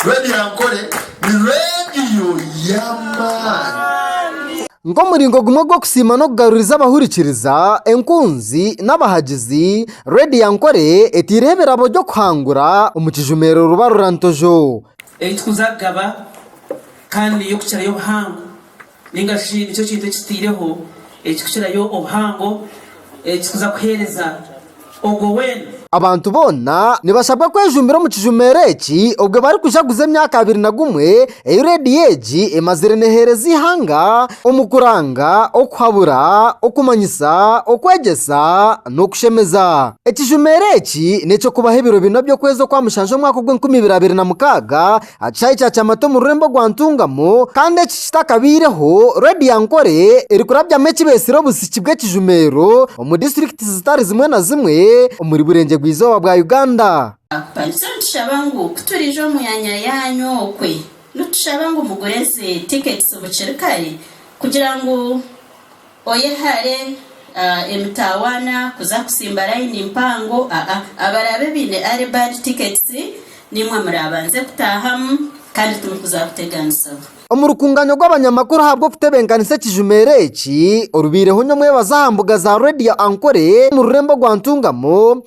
Rwebyankore ni reediyo y'amaani. Nk'omuringo gumwe gw'okusiima n'okugaruriza abahurikiriza, enkunzi, n'abahagizi, Rwebyankore etaireho ebirabo by'okuhangura omu kijumero Rubarurantojo. Ei turikuza kugaba kandi niyo kukira y'obuhango Ninga shi nikyo kintu ekitaireho ekikukirayo obuhango ekirikuza kuheereza ogwo weena? Abantu boona nibashabwa kwejumbira omu kijumeero eki obwe barikujaguza emyaka abiri na gumwe ei reediyo egi emazire neheereza eihanga omu kuranga, okuhabura, okumanyisa, okwegyesa n'okushemeza. Ekijumeero eki n'eky'okubaho ebiro bina by'okwezi okwa mushanju omwaka ogw'enkumi ibiri abiri na mukaaga Aha kishaayi kya kyamata omu rurembo rwa Ntungamo kandi eki kitakabaireho, roodi ya Ankore erikurabyamu ekibeetsire obusiki bw'ekijumeero omu disiturikiti zitari zimwe na zimwe omuri Burengyerwa bwa Izooba bwa Uganda. Baitu nitushaba ngu ku turiija omu myanya yaanyu okwe, nitushaba ngu mugure ezi tiketisi bukiri kare kugira ngu. Oyehare emitaawaana kuza kusimba layini mpango aa. Abaraabe baine Early Bird Tickets niimwe muraabanze kutaahamu kandi timukuza kuteganisibwa. Omu rukungaanya rw'abanyamakuru ahabw'okutebenkanisa ekijumeero eki orubaireho nyomwebazi aha mbuga za Radio Ankole omu rurembo rwa Ntungamo,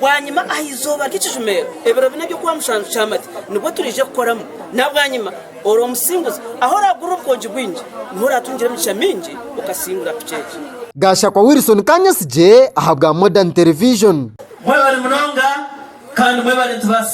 Bwanyima aha izooba ry'ekijumeero, ebiro bina eby'okuha mushanju kyamati, nibwo turaije kukoramu. Na bwanyima, ori omusinguzi, ahu oraagurira obukoogi bwingi, niho oraatungire emigisha mingi okasingura kuceeca. Gashakwa Wilson Kanyasigye ahabwa Modern Television. Mwebale munonga kandi mwebale nitubaasa.